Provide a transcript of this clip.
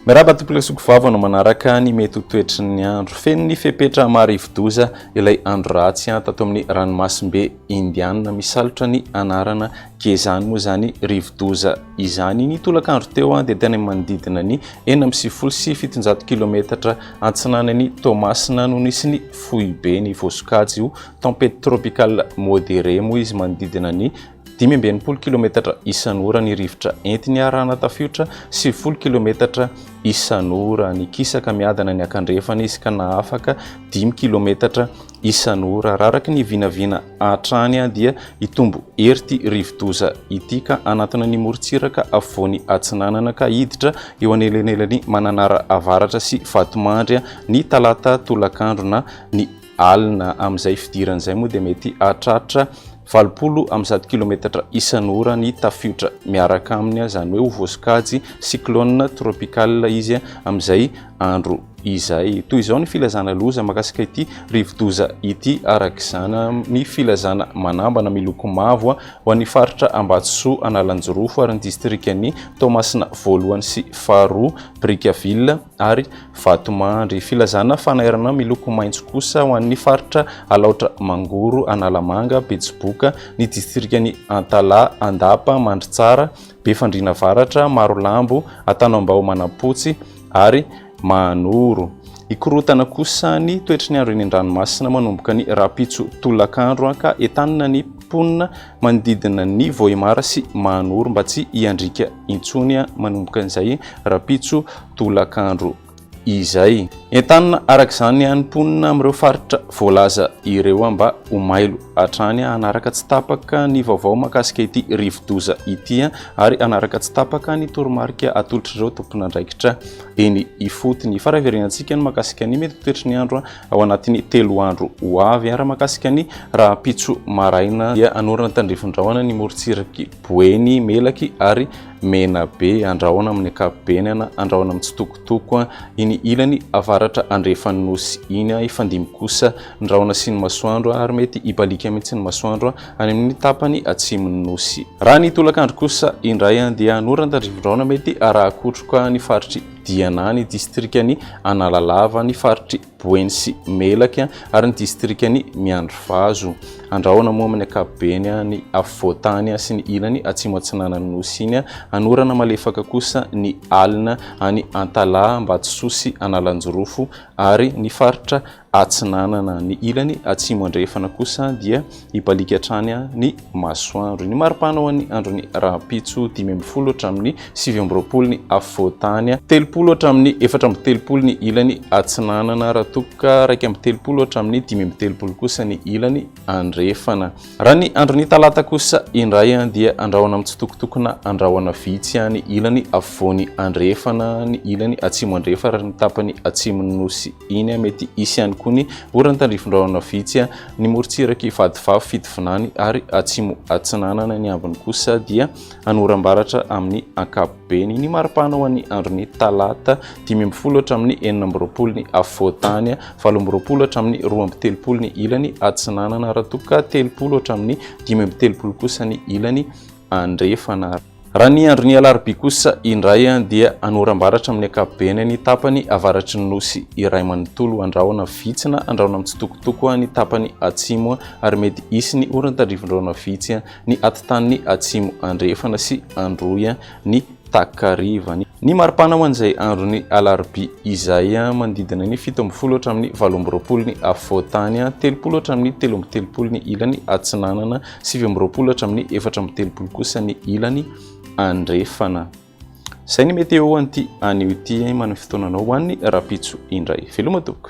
Miarahaba tompok'ilay soko vava no manaraka ny mety ho toetry ny andro. Feno ny fepetra marivo-doza ilay andro ratsy tato amin'ny ranomasimbe. Indiana misalotra ny anarana Gezani moa izany rivodoza izany. Ny tolakandro teo dia tany amin'ny manodidina ny enina amby sivifolo sy fitonjato kilometatra antsinanan'i Toamasina no nisy ny foibe. Ny voasokajy ho tempête tropicale modérée moa izy manodidina ny dimy amby enimpolo kilometatra isan'ora. Ny rivotra entiny arahana tafiotra sivifolo kilometatra isan'ora. Nikisaka miadana niankandrefana izy ka nahafaka dimy kilometatra Isan'ora, araraky ny vinavina hatrany dia hitombo hery ity rivodoza ity ka hanantona ny morontsiraka afovoany atsinanana ka hiditra eo anelanelan'i Mananara avaratra sy Vatomandry ny talata tolakandro na ny alina amin'izay fidirany izay moa dia mety hahatratra valopolo amby zato kilometatra isan'ora ny tafiotra miaraka aminy izany hoe ho voasokajy cyclone tropical izy amin'izay andro izay. Toy izao ny filazana loza makasika ity rivodoza ity araka izany ny filazana manambana miloko mavo ho an'ny faritra Ambatosoa Analanjirofo ary ny distrikan'ny Toamasina voalohany sy faharoa Brickaville ary Vatomandry. Filazana fanairana miloko maitso kosa ho an'ny faritra Alaotra Mangoro Analamanga Betsiboka ny distrikan'ny Antalaha Andapa Mandritsara Befandriana Avaratra Marolambo Antanambao Manampotsy ary manoro. Hikorontana kosa ny toetry ny andro eny an-dranomasina manomboka ny rahampitso tolakandro ka entanina ny mponina manodidina ny Vohemar sy Mahanoro mba tsy hiandriaka intsony manomboka izay rahampitso tolakandro izay. Entanina araka izany ny mponina amin'ireo faritra voalaza ireo mba ho mailo hatrany hanaraka tsy tapaka ny vaovao mahakasika ity rivodoza ity. ary hanaraka tsy tapaka ny toromarika atolotr'ireo tomponandraikitra eny ifotony. Fa raheverenantsika ny makasika ny mety toetry ny andro ao anatin'ny telo andro ho avy. Raha makasika ny rahampitso maraina dia hanorina tandrifindrahona ny morontsiraky Boeny, Melaky ary Menabe. Andrahona amin'ny ankapobeny na andrahona mitsitokotoko iny ilany avaratra andrefan'ny nosy iny. Hifandimby kosa ny rahona sy ny masoandro ary mety hibaliaka mihitsy ny masoandro any amin' ny tapany atsimon' ny nosy. Raha ny tolakandro kosa indray dia hanorana an-tandrifindraona mety arahakotroka ny faritr' i Diana, ny distrikan' i Analalava, ny faritr' i Boeny sy Melaky ary ny distrikan' i Miandrivazo. Andrahona moa amin' ny ankapobeny ny afovoan-tany sy ny ilany atsimo-atsinanan' ny nosy iny. Hanorana malefaka kosa ny alina any Antalaha, Ambatososy, Analanjirofo ary ny faritra atsinanana ny ilany atsimo andrefana kosa dia hibaliaka hatrany ny masoandro ny maripana ho an'ny andron'ny rahampitso dimy ambin'ny folo hatramin'ny sivy amby roapolo ny afovoantany telopolo hatramin'ny efatra amby telopolo ny ilany atsinanana raha tokoka raika amby telopolo hatramin'ny dimy amby telopolo kosa ny ilany andrefana raha ny andron'ny talata kosa indray an dia andrahona amin'ny tsitokotokona andrahona vitsy any ilany afovoany andrefana ny ilany atsimo andrefa raha ny tapany atsimon'ny nosy Iny mety hisy ihany koa ny oran'ny tandrifin-drahona vitsy, ny morontsiraky vadivavy fitovinany ary atsimo atsinanana, ny ambiny kosa dia hanoram-baratra amin'ny ankapobeny. Ny maripana ho an'ny andron'ny talata, dimy ambin'ny folo hatramin'ny enina amby roapolo ny afovoan-tany, valo amby roapolo hatramin'ny roa amby telopolo ny ilany atsinanana, raha toa ka telopolo hatramin'ny dimy amby telopolo kosa ny ilany andrefana. Raha ny andron'ny alarobia kosa indray dia hanoram-baratra amin'ny ankapobeny ny tapany avaratry ny nosy iray manontolo, handrahona vitsy na handrahona mitsitokotoko ny tapany atsimo ary mety hisy ny oran-tandrivindrahona vitsy ny atitaniny atsimo andrefana sy androy ny takariva. Ny maripana ho an'izay andron'ny alarobia izay manodidina ny fito ambin'ny folo hatramin'ny valo amby roapolo ny afovoan-tany, telopolo hatramin'ny telo amby telopolo ny ilany atsinanana, Sivy amby roapolo hatramin'ny efatra amby telopolo kosa ny ilany andrefana. Izay ny météo ho an'ity anio ity eh, manome fotoananao ho an'ny rapitso indray. Veloma tompoko.